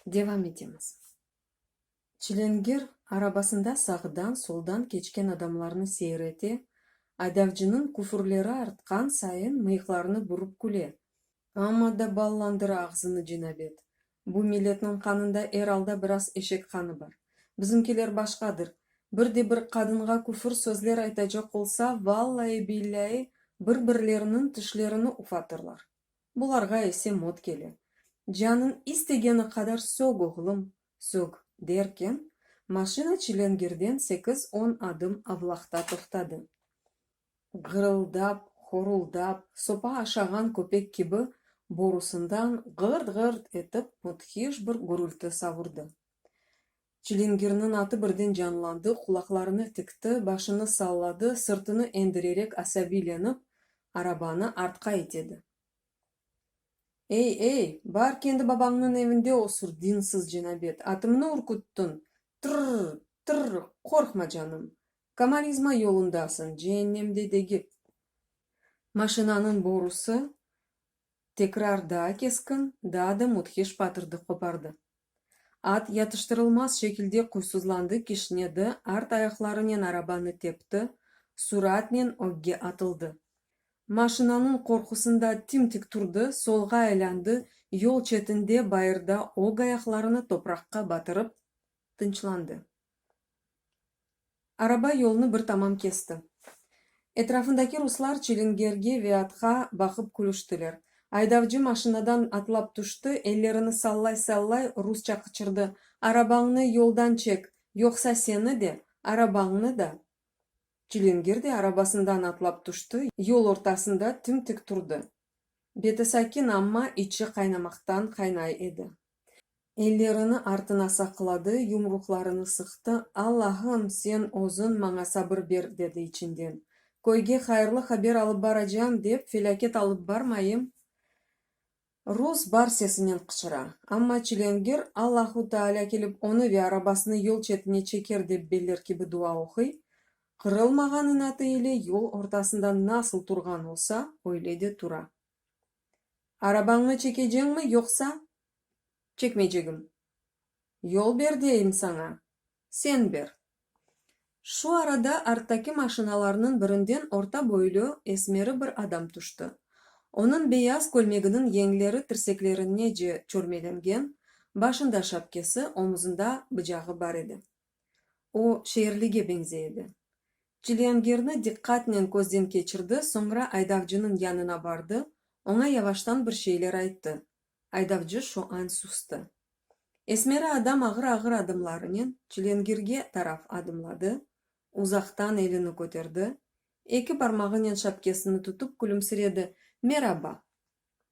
Devam etemiz. Çilingir arabasında sağdan, soldan keçken adamlarnı seyrete, aydavcınıñ küfürleri artqan sayın mıyıqlarını burıp küle. Amma da ballandır ağzını cenabet, Bu milletniñ qanında er alda biraz eşek qanı bar. Bizimkiler başqadır. Bir de bir qadınğa küfür sözler aytacaq olsa, vallai-billai, bir-birleriniñ tişlerini ufatırlar. Bularğa ise mot kele. Canıñ istegeni qadar sög, oğlum, sög, derken, maşina Çilengirden sekiz-on adım avlaqta toqtadı. Gırıldap, horuldap, sopa aşağan köpek kibi borusından ğırt-ğırt etip müthiş bir gürülti savurdı. Çilingirniñ atı birden canlandı, qulaqlarını tikti, başını salladı, sırtını endirerek asabiylenip, arabanı artqa itedi. Ey, ey, bar kendi babañnıñ evinde osur, dinsiz cenabet, atımnı ürküttiñ! Tırr, tırr, qorqma, canım! Komalizma yolundasıñ, ceennemde degil. Maşinanıñ borusı tekrar daa keskin, daa da müthiş patırdı qopardı. At yatıştırılmaz şekilde quysuzlandı, kişnedi, art ayaqlarınen arabanı tepti, suratnen ögge atıldı. Maşinanıñ qorqusında tim-tik turdı, solğa aylandı, yol çetinde, bayırda ög ayaqlarını topraqqa batırıp tınçlandı. Araba yolnı bir tamam kesti. Etrafındaki ruslar çilingerge ve atqa baqıp külüştiler. Aydavcı maşinadan atlap tüşti, ellerini sallay-sallay rusça qıçırdı, Arabañnı yoldan çek, yoqsa seni de, arabañnı da! Çilingir de arabasından atlap tüşti, yol ortasında tim-tik turdı. Beti sakin, amma içi qaynamaqtan qaynay edi. Ellerini artına saqladı, yumruqlarını sıqtı, Allahım, sen özüñ maña sabır ber, dedi içinden. Köyge hayırlı haber alıp baracam, dep felâket alıp barmayım! Rus bar sesinen qıçıra. Amma çilengir, Allahu Taalâ kelip onı ve arabasını yol çetine çeker dep beller kibi dua oquy. Qırılmağan inatı ile yol ortasında nasıl turğan olsa, öyle de tura. Arabañnı çekeceñmi, yoqsa? Çekmeycegim. Yol ber deyim saña, sen ber. Şu arada arttaki maşinalarnıñ birinden orta boylü, esmeri bir adam tüşti. Onıñ beyaz kölmeginiñ yeñleri tirseklerinece çörmelengen, başında şapkesi, omuzında bıcağı bar edi. O, şeerlige beñzey edi. Ciliangerni diqqatnen közden keçirdi, soñra aydavcınıñ yanına bardı, oña yavaştan bir şeyler ayttı. Aydavcı şu an sustı. Esmeri adam ağır-ağır adımlarınen Ciliangerge taraf adımladı, uzaqtan elini köterdi, eki barmağınen şapkesini tutıp külümsiredi, Meraba!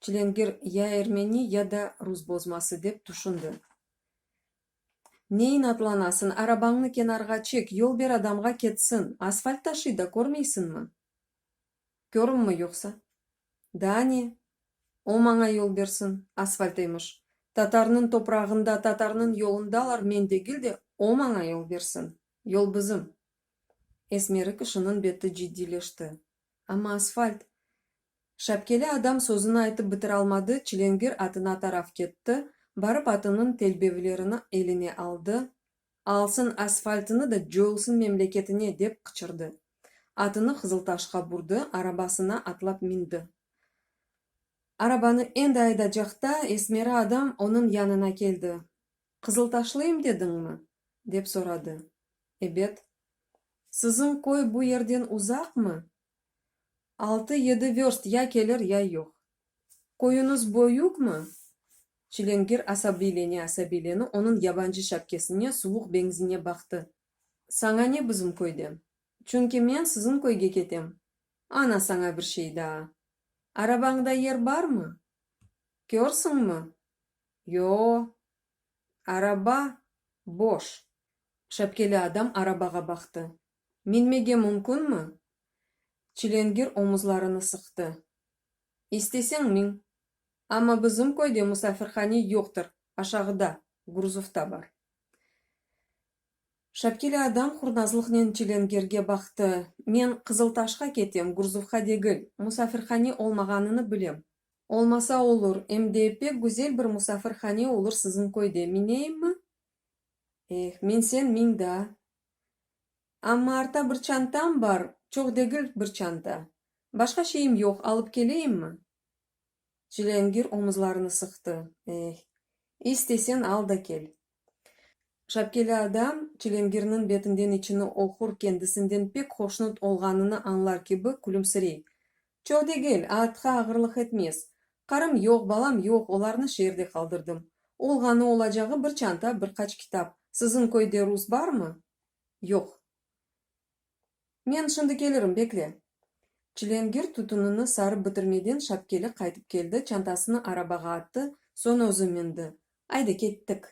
Çilingir ya ermeni, ya da rus bozması, dep tüşündi. Ne inatlanasın, arabañnı kenarğa çek, yol ber adamğa ketsin, asfalt taşıy da, körmeysiñmi? Körümmi yoqsa? Daa ne, o maña yol bersin, asfaltıymış. Tatarnıñ toprağında, tatarnıñ yolundalar, men degil de, o maña yol bersin, yol bizim. Esmeri kişiniñ beti ciddiyleşti. Amma asfalt! Şapkeli adam sözüni aytıp bitiralmadı, çilengir atına taraf ketti, barıp atınıñ telbevlerini eline aldı, Alsın asfaltını da coyulsın memleketine! dep qıçırdı. Atını Qızıltaşqa burdı, arabasına atlap mindi. Arabanı endi aydacaqta esmeri adam onıñ yanına keldi, Qızıltaşlıyım dediñmi? dep soradı. Ebet, Siziñ köy bu yerden uzaqmı? Altı-yedi vörst, ya kelir, ya yoq. Köyüñiz böyükmi? Çilingir asabiylene-asabiylene onıñ yabancı şapkesine, suvuq beñzine baqtı. Saña ne bizim köyden? Çünki men siziñ köyge ketem. Ana, saña bir şey daa. Arabañda yer barmı? Körsiñmi? Yo-o, araba, boş. Şapkeli adam arabağa baqtı. Minmege mümkünmi? Çilengir omuzlarını sıqtı. İsteseñ min. Amma bizim köyde musafirhane yoqtır, aşağıda, gruzovda bar. Şapkeli adam hurnazlıqnen çilengirge baqtı. Men Qızıltaşqa ketem, gruzovğa degil. Musafirhane olmağanını bilem. Olmasa olur, em de pek güzel bir musafirhane olur siziñ köyde. Mineyiñmi? Eh, minsen min da. Amma arta bir çantam bar, çoq degil, bir çanta. Başqa şeyim yoq, alıp keleyimmi? Cılângir omuzlarını sıqtı. Eh, istesen al da kel. Şapkeli adam Cılângirniñ betinden içini oqur, kendisinden pek hoşnut olğanını añlar kibi külümsirey. Çoq degil, aatqa ağırlıq etmez. Qarım yoq, balam yoq, olarnı şeerde qaldırdım. Olğanı olacağı bir çanta, bir qaç kitap. Siziñ köyde rus barmı? Yoq. Men şimdi kelirim, bekle. Çilengir tütünini sarıp bitirmeden şapkeli qaytıp keldi, çantasını arabağa attı, soñ özü mindi. Ayda, kettik.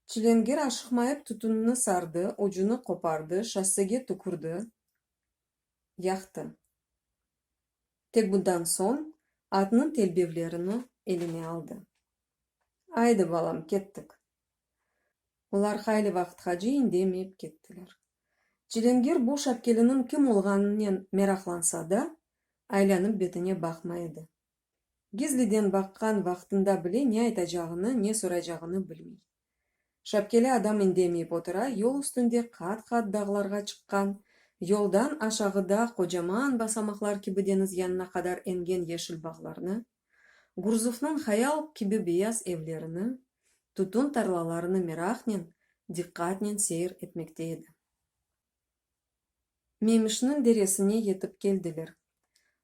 Çilengir aşıqmayıp tütünini sardı, ucunı qopardı, şossege tükürdi. yaqtı. Tek bundan soñ atnıñ telbevlerini eline aldı. Aydı, balam, kettik. Olar hayli vaqıtqa ceyin demeyip kettiler. Cilengir bu şapkeliniñ kim olğanınen meraqlansa da, aylanıp betine baqmay edi. Gizliden baqqan vaqtında bile ne aytacağını, ne soraycağını bilmey. Şapkeli adam indemeyip otura, yol üstünde qat-qat dağlarğa çıqqan, yoldan aşağıda qocaman basamaqlar kibi deñiz yanına qadar engen yeşil bağlarnı, Gurzufnıñ hayal kibi beyaz evlerini, tütün tarlalarını meraqnen, diqqatnen seyir etmekte edi. Memişniñ deresine yetip keldiler.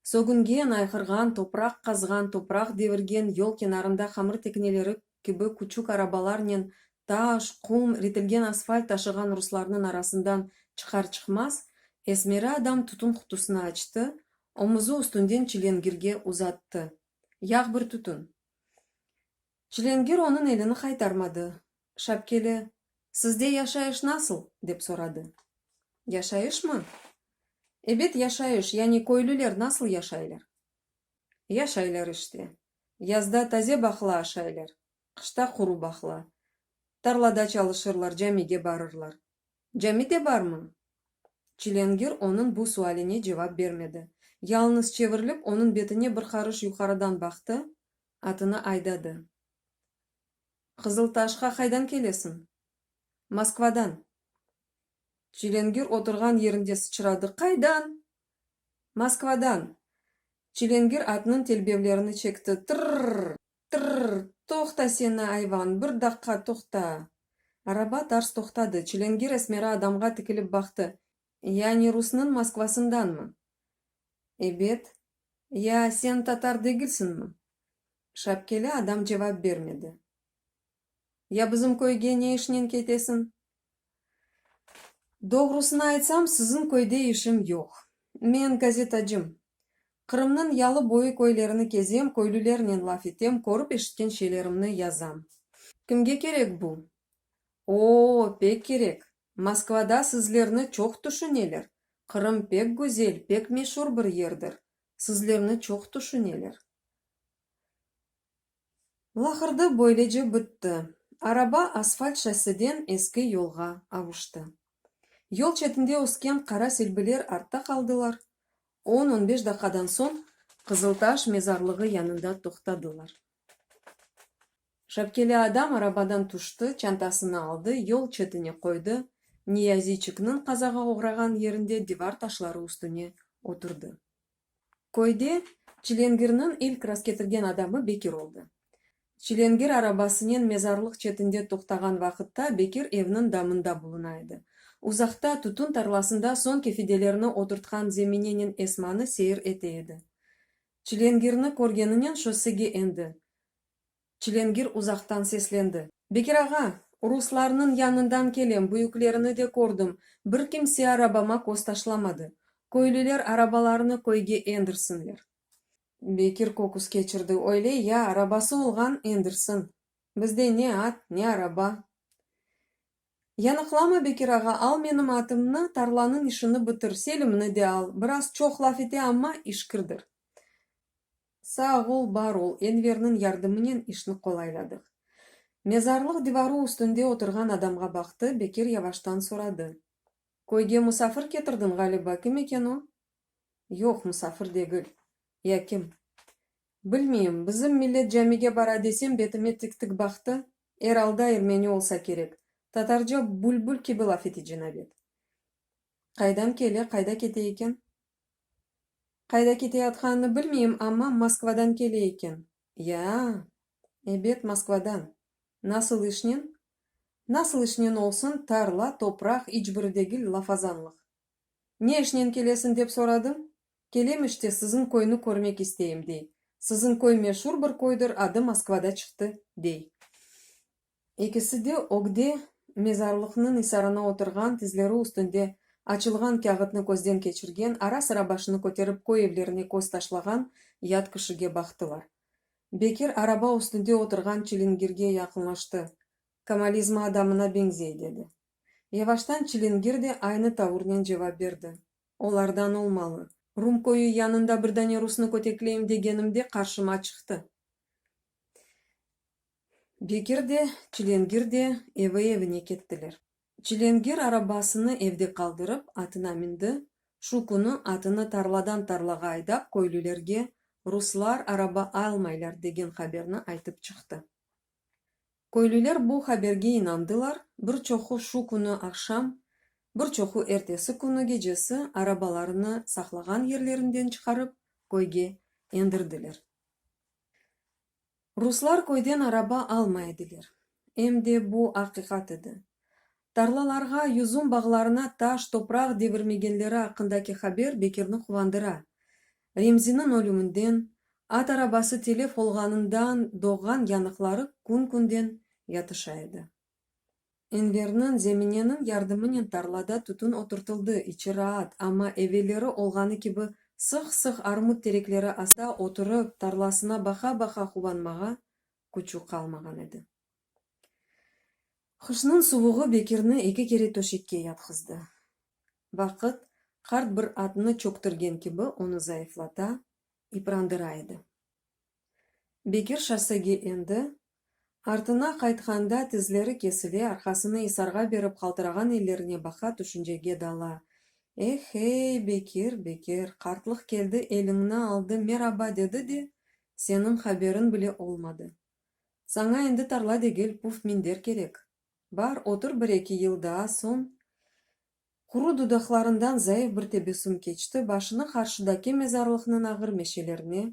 Sögüngen, ayğırğan, topraq qazğan, topraq devirgen yol kenarında hamır tekneleri kibi küçük arabalarnen taş, qum, ritilgen asfalt taşığan ruslarnıñ arasından çıqar-çıqmaz, esmeri adam tütün qutusını açtı, omuzı üstünden çilengirge uzattı. Yağ bir tütün. Çilengir onıñ elini qaytarmadı. Şapkeli, sizde yaşayış nasıl? dep soradı. Yaşayışmı? Ebet, yaşayış, yani köylüler nasıl yaşaylar? Yaşaylar işte. Yazda taze bahla aşaylar, qışta quru bahla. Tarlada çalışırlar, camige barırlar. Cami de barmı? Çilângir onıñ bu sualine cevap bermedi, yalnız çevirilip onıñ betine bir qarış yuqarıdan baqtı, atını aydadı. Qızıltaşqa qaydan kelesiñ? Moskvadan. Çilengir oturğan yerinde sıçradı, Qaydan? Moskvadan. Çilengir atnıñ telbevlerini çekti, Tırrr! Tırrr! Toqta seni, ayvan, bir daqqa toqta! Araba tars toqtadı. Çilengir esmera adamğa tikilip baqtı, Yani rusnıñ Moskvasındanmı? Ebet. Ya sen tatar degilsiñmi? Şapkeli adam cevap bermedi. Ya bizim köyge ne işnen ketesiñ? Doğrusını aytsam, siziñ köyde işim yoq. Men gazetacım. Qırımnıñ yalı boyu köylerini kezem, köylülernen laf etem, körip-eşitken şeylerimni yazam. Kimge kerek bu? O-o, pek kerek. Moskvada sizlerni çoq tüşüneler. Qırım pek güzel, pek meşur bir yerdir. sizlerni çoq tüşüneler. Laqırdı böylece bitti. Araba asfalt şosseden eski yolğa avuştı. Yol çetinde ösken qara silbiler artta qaldılar, on-on beş daqiqadan soñ Qızıltaş mezarlığı yanında toqtadılar. Şapkeli adam arabadan tüşti, çantasını aldı, yol çetine qoydı, Niyaziçikniñ qazağa oğrağan yerinde divar taşları üstüne oturdı. Köyde Çilengirniñ ilk rastketirgen adamı Bekir oldı. Çilengir arabasınen mezarlıq çetinde toqtağan vaqıtta Bekir evniñ damında buluna edi. Uzaqta, tütün tarlasında soñki fidelerni oturtqan Zeminenen Esmanı seyir ete edi. Çilengirni körgeninen şossege endi. Çilengir uzaqtan seslendi. Bekir ağa, ruslarnıñ yanından kelem, büyüklerini de kördim, bir kimse arabama köz taşlamadı. Köylüler arabalarını köyge endirsinler. Bekir köküs keçirdi. Öyle ya, arabası olğan, endirsin. Bizde ne at, ne araba. Yanıqlama, Bekir ağa, al menim atımnı, tarlanıñ işini bitir, Selimni de al, biraz çoq laf ete, amma işkirdir. Sağ ol, bar ol, Enverniñ yardımınen işni qolayladıq. Mezarlıq divarı üstünde oturğan adamğa baqtı, Bekir yavaştan soradı. Köyge musafir ketirdiñ, ğaliba, kim eken o? Yoq, musafir degil. Ya kim? Bilmeyim, bizim millet camige bara desem betime tik-tik baqtı, er alda ermeni olsa kerek, tatarca bülbül kibi laf ete cenabet. Qaydan kele, qayda kete eken? Qayda keteyatqanını bilmeyim, amma Moskvadan kele eken. Ya-a, ebet, Moskvadan. Nasıl işnen? Nasıl işnen olsun, tarla, topraq, iç biri degil, lafazanlıq. Ne işnen kelesiñ dep soradım. Kelem işte, siziñ köyni körmek isteyim, dey. Siziñ köy meşur bir köydir, adı Moskvada çıqtı, dey. Ekisi de ögde mezarlıqnıñ isarına oturğan, tizleri üstünde açılğan kâğıtnı közden keçirgen, ara-sıra başını köterip köy evlerine köz taşlağan yat kişige baqtılar. Bekir araba üstünde oturğan çilingirge yaqınlaştı. Komalizma adamına beñzey, dedi. Yevaştan çilingir de aynı tavurnen cevap berdi, Olardan olmalı. Rum köyü yanında bir dane rusnı kötekleyim degenimde qarşıma çıqtı. Bekir de, çilingir de evi-evine kettiler. Çilingir arabasını evde qaldırıp, atına mindi. Şu künü atını tarladan tarlağa aydap, köylülerge ruslar araba almaylar degen haberni aytıp çıqtı. Köylüler bu haberge inandılar, bir çoqu şu künü aqşam, bir çoqu ertesi künü gecesi arabalarını saqlağan yerlerinden çıqarıp, köyge endirdiler. Ruslar köyden araba almay ediler, em de bu aqiqat edi. Tarlalarğa, yüzüm bağlarına taş, topraq devirmegenleri aqqındaki haber Bekirni quvandıra. Remziniñ ölüminden, at arabası telef olğanından doğğan yanıqları kün-künden yatışa edi. Enverniñ, Zemineniñ yardımınen tarlada tütün oturtıldı, içi raat, amma evelleri olğanı kibi sıq-sıq armut terekleri asta oturıp, tarlasına baqa-baqa quvanmağa küçü qalmağan edi. Qışnıñ suvuğı Bekirni eki kere töşekke yatqızdı. Vaqıt, qart bir atnı çöktürgen kibi, onı zayıflata, yıprandıra edi. Bekir şossege endi, artına qaytqanda tizleri kesile, arqasını isarğa berip qaltırağan ellerine baqa, tüşüncege dala, Eh-hey, Bekir, Bekir, qartlıq keldi, eliñni aldı, meraba dedi de, seniñ haberiñ bile olmadı. Saña endi tarla degil, puf minder kerek. Bar, otur bir-eki yıl daa, soñ. Quru dudaqlarından zayıf bir tebessüm keçti, başını qarşıdaki mezarlıqnıñ ağır meşelerine,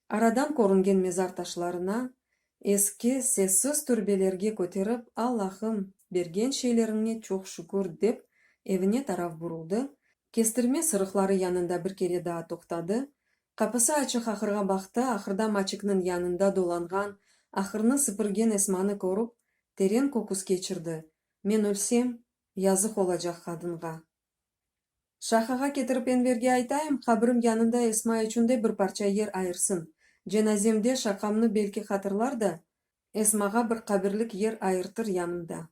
aradan körüngen mezar taşlarına, eski, sessiz türbelerge köterip, Allahım, bergen şeyleriññe çoq şükür, dep, evine taraf buruldı, Kestirme sırıqları yanında bir kere daa toqtadı, qapısı açıq ahırğa baqtı, ahırda maçıknıñ yanında dolanğan, ahırnı sıpırgen Esmanı körüp, teren köküs keçirdi, Men ölsem, yazıq olacaq qadınğa. Şahağa ketirip Enverge aytayım, qabrim yanında Esma içün de bir parça yer ayırsın, cenazemde şaqamnı belki hatırlar da, Esmağa bir qabirlik yer ayırtır yanımda.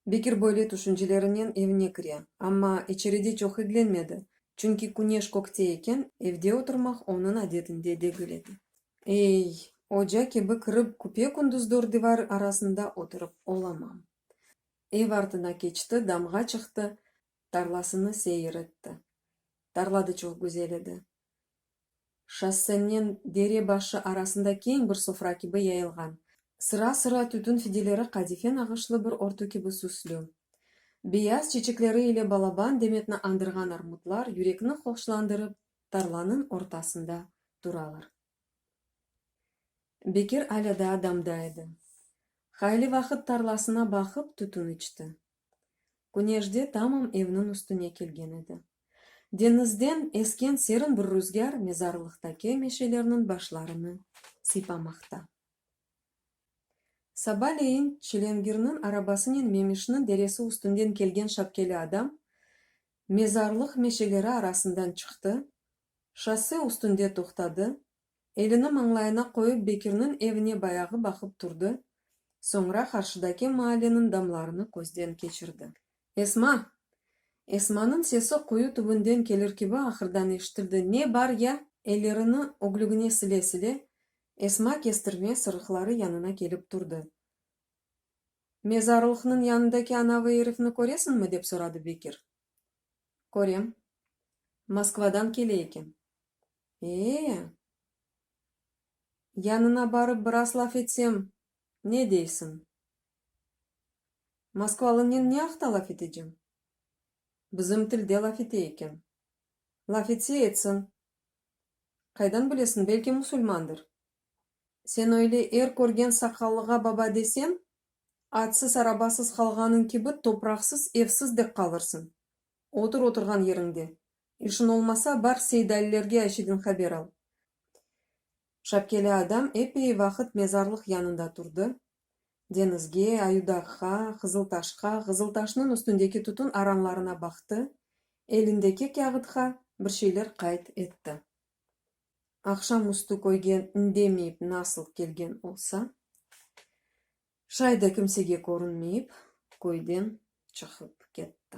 Bekir böyle tüşüncelerinen evine kire, amma içeride çoq iglenmedi, çünki küneş kökte eken, evde oturmaq onıñ adetinde degil edi. Ey, oca kibi kirip, küpe-kündüz dört divar arasında oturıp olamam. Ev artına keçti, damğa çıqtı, tarlasını seyir etti. Tarla da çoq güzel edi. şossenen dere başı arasında keñ bir sofra kibi yayılğan. Sıra-sıra tütün fideleri qadife nağışlı bir örtü kibi süslü. Beyaz çeçekleri ile balaban demetni andırğan armutlar yürekni hoşlandırıp tarlanıñ ortasında turalar. Bekir alâ daa damda edi. Hayli vaqıt tarlasına baqıp tütün içti. Güneşde tamam evniñ üstüne kelgen edi. Deñizden esken serin bir rüzgâr mezarlıqtaki meşelerniñ başlarını sıypamaqta. Sabaleyin Çilengirniñ arabasınen Memişniñ deresi üstünden kelgen şapkeli adam mezarlıq meşeleri arasından çıqtı, şosse üstünde toqtadı, Elini mañlayına qoyıp Bekirniñ evine bayağı baqıp turdı, soñra qarşıdaki maalleniñ damlarını közden keçirdi. Esma! Esmanıñ sesi quyu tübünden kelir kibi ahırdan eşitildi, Ne bar ya? Ellerini öglügine sile-sile, Esma kestirme sırıqları yanına kelip turdı. Mezarlıqnıñ yanındaki anavı erifni köresiñmi? dep soradı Bekir. Körem. Moskvadan kele eken. Ee? Yanına barıp biraz laf etsem, ne deysiñ? Moskvalınen ne aqta laf etecem? Bizim tilde laf ete eken. Laf etse etsin. Qaydan bilesiñ, belki musulmandır. Sen öyle er körgen saqallığa baba desem, atsız, arabasız qalğanıñ kibi topraqsız, evsiz dek qalırsıñ. Otur oturğan yeriñde, İşiñ olmasa, bar Seydalilerge Ayşeden haber al. Şapkeli adam epey vaqıt mezarlıq yanında turdı. Deñizge, Ayudağğa, Qızıltaşqa, Qızıltaşnıñ üstündeki tütün aranlarına baqtı, elindeki kâğıtqa bir şeyler qayd etti. Aqşam üstü köyge indemeyip nasıl kelgen olsa, şay da kimsege körünmeyip, köyden çıqıp ketti.